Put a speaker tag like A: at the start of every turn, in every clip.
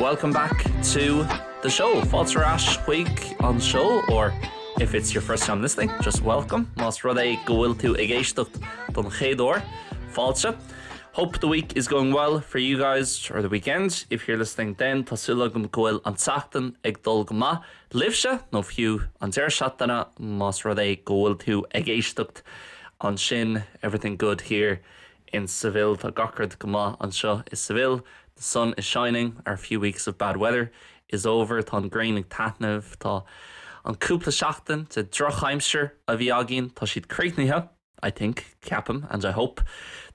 A: Welcome back to the show. Fáilte ar ais chuig an seó or if it's your first time listening, just welcome. Más rud é go bhfuil tú ag éisteacht don chéad uair, fáilte. Hope the week is going well for you guys or the weekend. If you're listening then, tá súil agam go bhfuil an tseachtain ag dul go maith libhse, nó fiú, an deireadh seachtaine, más rud é go bhfuil tú ag éisteacht ansin, everything good here in Seville, tá gach rud go maith anseo i Seville, the sun is shining, our few weeks of bad weather is over, tá an ghrian ag taitneamh, tá an cúpla seachtain de dhrochaimsir a bhí againn, tá siad críochnaithe. I think, Ceapaim and I hope,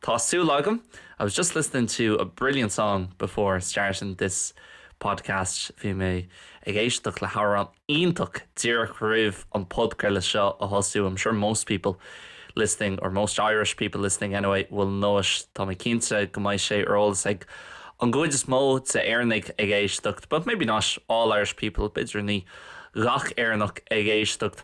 A: Tá súil agam I was just listening to a brilliant song before starting this podcast Bhí mé ag éisteacht le hamhrán iontach díreach roimh an podchraoladh seo a thosú I'm sure most people listening, or most Irish people listening anyway, will know it Tá mé cinnte go mbeidh sé ar eolas ag an gcuid is mó de Éireannaigh ag éisteacht But maybe not all Irish people, b'fhéidir ní gach Éireannach ag éisteacht.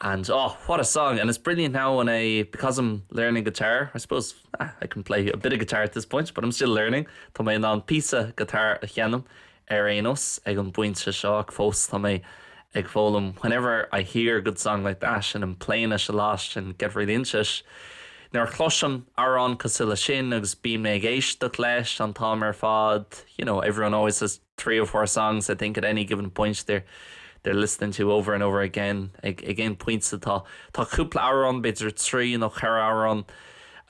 A: and, oh, what a song, and it's brilliant now when I, because I'm learning guitar, I suppose, ah, I can play a bit of guitar at this point, but I'm still learning, tá mé in ann píosa guitar a sheinm ar aon nós ag an bpointe seo ach fós tá mé ag foghlaim whenever I hear a good song like that and I'm playing it a lot and get really into it nuair a chloisim amhrán cosúil leis sin agus bíonn mé ag éisteacht leis an t-am ar fad you know, everyone always says three or four songs, I think, at any given point, they're, they're listening to over and over again, ag, ag aon phointe tá, tá cúpla amhrán, b'fhéidir trí nó ceithre amhrán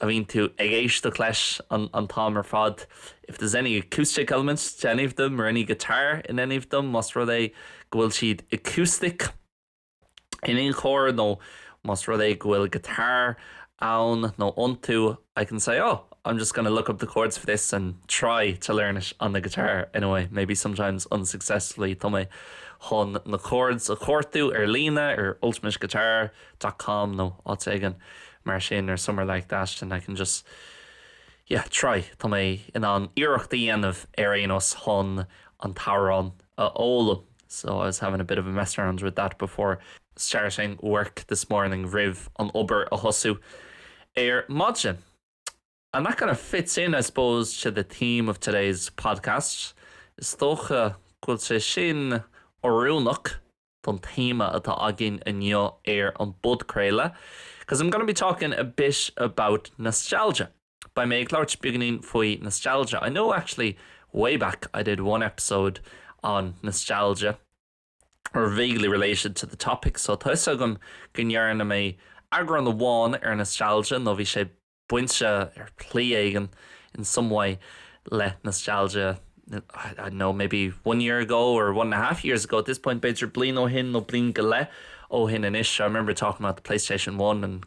A: a bhíonn tú ag éisteacht leis an, an t-am ar fad, if there's any acoustic element to any of them or any guitar in any of them, más rud é go bhfuil siad acoustic. in aon chor, nó más rud é go bhfuil guitar ann nó iontu, I can say, oh, I'm just gonna look up the chords for this and try to learn it on the guitar anyway, maybe sometimes unsuccessfully. Tá mé chun na chords a chuartú ar líne, ar ultimateguitar dot com nó áit éigin mar sin, or somewhere like that, and I can just, yeah, try. Tá mé in ann iarracht a dhéanamh ar aon nós chun an t-amhrán a fhoghlaim. so I was having a bit of a mess around with that before starting work this morning roimh an obair a thosú ar maidin. And that kind of fits in, I suppose, to the theme of today's podcast. Is dócha go bhfuil sé sin oiriúnach don téama atá againn inniu ar an bpodchraoladh, 'cause I'm going to be talking a bit about nostalgia. Beidh mé ag labhairt beagainín faoi nostalgia. I know actually way back I did one episode on nostalgia or vaguely related to the topic so tá 'fhios agam go ndearna mé eagrán amháin ar nostalgia nó bhí sé bainte ar shlí éigin in some way le nostalgia I don't know maybe one year ago or one and a half years ago at this point b'fhéidir bliain ó shin nó bliain go leith ó shin anois I remember talking about the PlayStation 1 and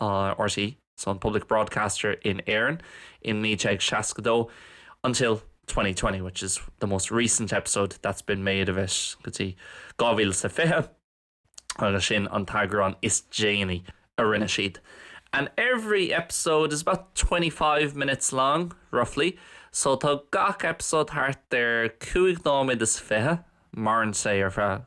A: RTÉ so an public broadcaster in Éirinn in 1962 until twenty twenty which is the most recent episode that's been made of it go dtí dhá mhíle is a fiche agus sin an t-eagrán is déanaí a rinne siad. And every episode is about twenty five minutes long roughly so tá gach eipeasóid thart ar chúig nóiméad is fiche, maireann sé ar feadh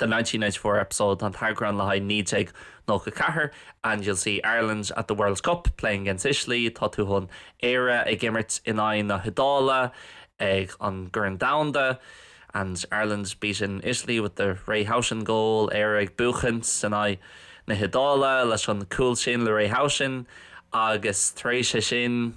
A: The 1994 episode, an t-eagrán le haghaidh 1994, and you'll see Ireland at the World Cup playing against Italy, tá tú chun Éire ag imirt in aghaidh na hIodáile ag an gCorn Domhanda, and Ireland beating Italy with the Ray Houghton goal, Éire ag buachaint in aghaidh na hIodáile leis an gcúl sin le Ray Houghton, agus tar éis é sin.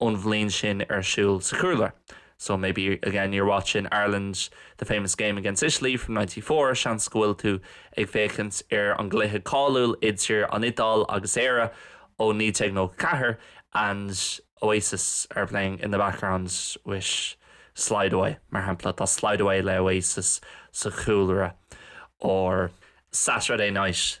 A: ón bhliain sin ar siúl sa chúlra. So maybe, again, you're watching Ireland, the famous game against Italy from ninety four, seans go bhfuil tú ag féachaint ar an gcluiche cáiliúil idir an Iodáil agus Éire ó naoi déag nócha a ceathair and Oasis are playing in the background with Slide Away, mar shampla, tá Slide Away le Oasis sa chúlra or Saturday night.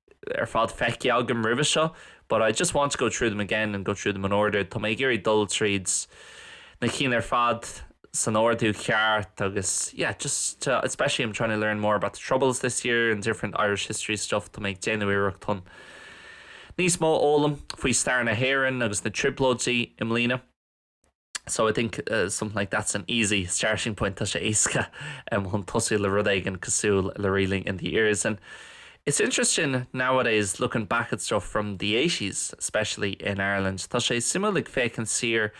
A: ar fad feicthe agam roimhe seo but I just want to go through them again and go through them in order. Tá mé ag iarraidh dul tríd na cinn ar fad san ordú ceart agus yeah just especially I'm trying to learn more about the Troubles this year and different Irish history stuff. Tá mé ag déanamh iarracht chun níos mó a fhoghlaim faoi stair na hÉireann agus na Trioblóidí i mbliana. So I think something like that's an easy starting point, tá sé éasca chun tosú le rud éigin cosúil le Reeling in the Years. And it's interesting nowadays looking back at stuff from the eighties, especially in Ireland, tá sé suimiúil ag féachaint siar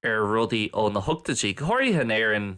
A: ar rudaí ó na hochtaidí, go háirithe in Éirinn,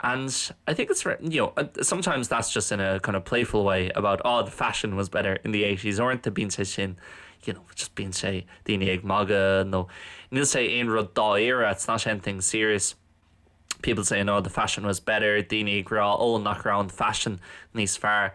A: And I think it's written, you know, sometimes that's just in a kind of playful way about oh the fashion was better in the 80s or into bíonn sé sin you know, just bíonn sé daoine ag maga nó níl sé aon rud dáíra it's not anything serious people say no the fashion was better daoine ag rá ó nach ra an fashion níos fear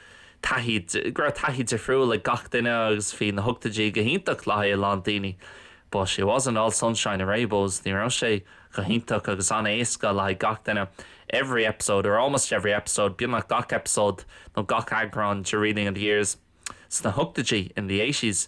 A: taithí, go raibh taithí difriúil ag gach duine agus bhí na hochtaidí go hiontach le haghaidh a lán daoine but it wasn't all sunshine and rainbows ní raibh sé go hiontach agus an-éasca le haghaidh gach duine every episode or almost every episode beagnach gach eipeasóid nó gach eagrán de Reeling in the Years sna hochtaidí in the eighties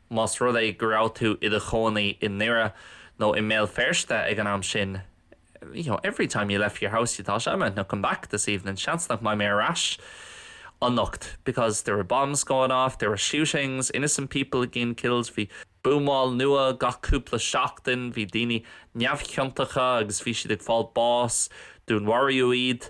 A: Más rud é go raibh tú i do chónaí i nDoire nó i mBéal Feirste ag an am sin, you know, every time you left your house you thought, I might not come back this evening, seans nach mbeidh mé ar ais anocht, because there were bombs going off, there were shootings, innocent people getting killed, bhí buamáil nua gach cúpla seachtain, bhí daoine neamhchiontacha agus bhí siad ag fáil bás, dúnmharaíodh iad.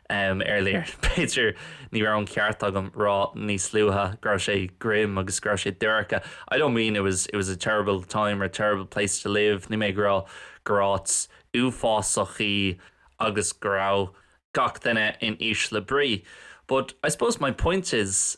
A: Earlier, b'fhéidir, ní raibh an ceart agam rá níos luaithe go raibh sé grim agus go raibh sé dorcha. I don't mean it was, it was a terrible time or a terrible place to live, níl mé ag rá gur áit uafásach í agus go raibh gach duine in ísle brí. But I suppose my point is,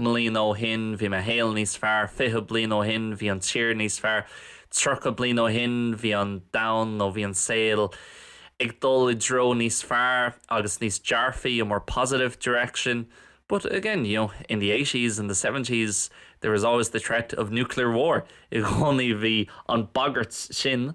A: mbliana ó shin bhí mo shaol níos fearr, fiche bliain ó shin bhí an tír níos fearr, tríocha bliain ó shin bhí an domhan nó bhí an saol ag dul i dtreo níos fearr agus níos dearfaí, a more positive direction. But, again, you know, in the eighties, and the seventies, there was always the threat of nuclear war, i gcónaí bhí an bhagairt sin,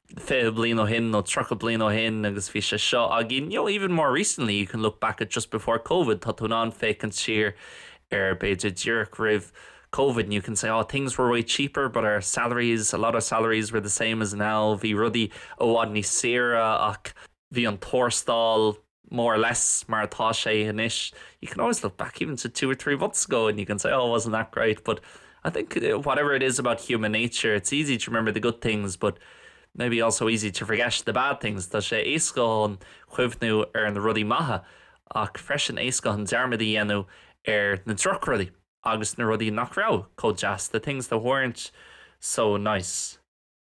A: fiche bliain ó shin nó tríocha bliain ó shin agus bhí sé seo againn you know even more recently you can look back at just before covid tá tú in ann féachaint siar ar b'fhéidir díreach roimh covid and you can say oh things were way cheaper but our salaries a lot of salaries were the same as now bhí rudaí i bhfad níos saoire ach bhí an tuarastal more or less, mar atá sé anois, you can always look back even to two or three months ago and you can say oh wasn't that great but I think whatever it is about human nature it's easy to remember the good things but maybe also easy to forget the bad things, tá sé éasca chun cuimhniú ar na rudaí maithe ach freisin éasca chun dearmad a dhéanamh ar na drochrudaí agus na rudaí nach raibh chomh deas, the things that weren't so nice.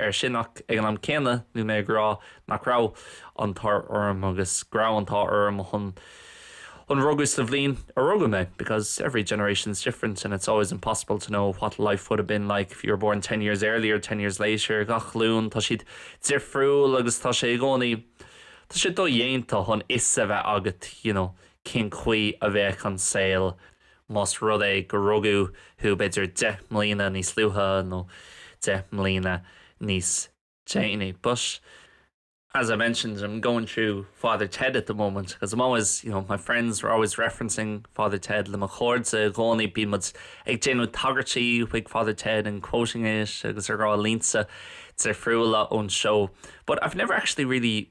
A: air sin ach ag an am céanna níl mé ag rá nach raibh an t-ádh orm agus go raibh an t-ádh orm chun rugadh sa bhliain a rugadh mé because every generation's different and it's always impossible to know what life would have been like if you were born ten years earlier, ten years later gach glúin tá siad difriúil agus tá sé i gcónaí tá sé dodhéanta chun fhios a bheith agat you know cén chaoi a bheadh an saol Más rud é gur rugadh thú b'fhéidir deich mbliana níos luaithe nó deich mbliana níos déanaí but as I mentioned I'm going through Father Ted at the moment because I'm always, you know, my friends we're always referencing Father Ted le mo chairde i gcónaí, bíonn muid ag déanamh tagairtí chuig Father Ted and quoting it agus ag rá línte difriúla ón seó but I've never actually really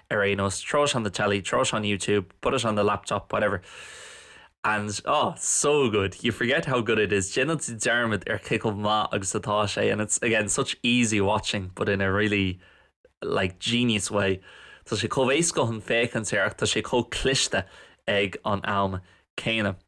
A: ar aon nós, throw it on the telly, throw it on YouTube, put it on the laptop, whatever and oh, so good, you forget how good it is, déanann tú dearmad ar cé chomh maith agus atá sé and it's, again, such easy watching but in a really like genius way. Tá sé chomh éasca chun féachaint air ach tá sé chomh cliste ag an am céanna.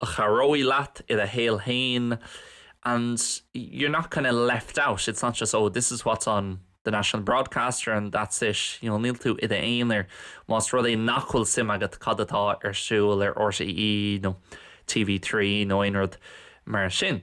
A: a chabhróidh leat i do shaol féin and you're not kind of left out, it's not just oh this is what's on the national broadcaster and that's it, you know níl tú i d'aonair más rud é nach bhfuil suim agat cad atá ar siúl ar RTÉ nó TV3 nó aon rud mar sin.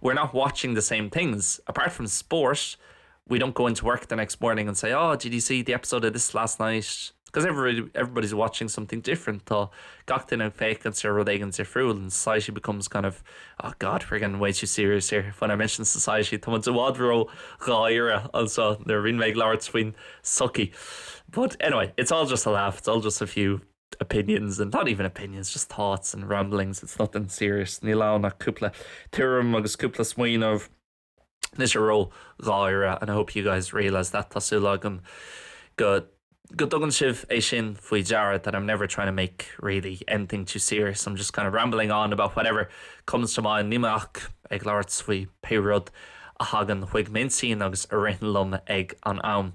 A: We're not watching the same things. Apart from sport, we don't go into work the next morning and say, oh, did you see the episode of this last night? Because everybody, everybody's watching something different. Tá gach duine ag féachaint ar rud éigin difriúil and society becomes kind of, oh God, we're getting way too serious here. When I mention society, tá muid i bhfad ró gháire anseo nuair a bhíonn mé ag labhairt faoin sochaí. But anyway, it's all just a laugh, it's all just a few opinions and not even opinions, just thoughts and ramblings, it's nothing serious. Níl ann ach cúpla tuairim agus cúpla smaoineamh, níl sé ródháiríre and I hope you guys realise that tá súil agam go go dtugann sibh é sin faoi deara that I'm never trying to make really anything too serious. I'm just kind of rambling on about whatever comes to mind. Níl mé ach ag labhairt faoi pé rud a thagann chuig m'intinn agus a ritheann liom ag an am.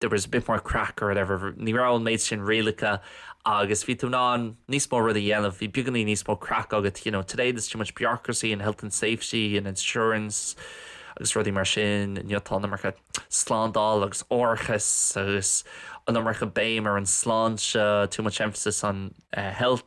A: there was a bit more craic or whatever, ní raibh an méid sin rialacha agus bhí tú in ann níos mó rudaí a dhéanamh, bhí beagainín níos mó craic agat, you know, today there's too much bureaucracy and health and safety and insurance agus rudaí mar sin, inniu tá an iomarca slándáil agus árachais agus an iomarca béim ar an sláinte, too much emphasis on uh, health.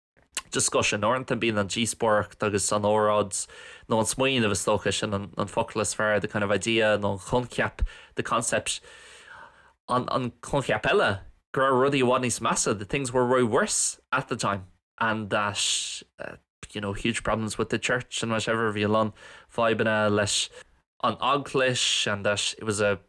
A: discussion. Uaireanta bíonn an díospóireacht agus an óráid nó an smaoineamh, is dócha, sin an focal is fearr, the kind of idea nó an coincheap, the concept. An coincheap eile, go raibh rudaí i bhfad níos measa, that things were way worse at the time and that, you know, huge problems with the Church and whatever, bhí a lán fadhbanna leis an Eaglais and that it was a.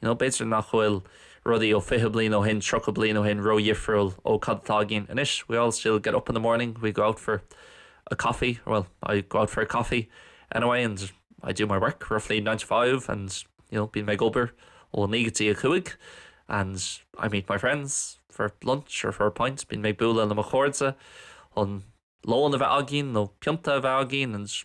A: You know, b'fhéidir nach bhfuil rudaí ó fiche bliain ó shin, tríocha bliain ó shin ródhifriúil ó cad atá againn anois, we all still get up in the morning, we go out for a coffee, or well, I go out for a coffee anyway and I do my work, roughly, nine to five and, you know, bíonn mé ag obair ó naoi go dtí a cúig and I meet my friends for lunch or for a pint, bíonn mé ag bualadh le mo chairde chun lón a bheith againn nó pionta a bheith againn and.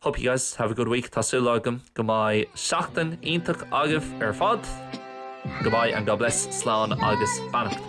A: Hope you guys have a good week. Tá súil agam go mbeidh seachtain iontach agaibh ar fad. Goodbye and God bless, slán agus beannacht.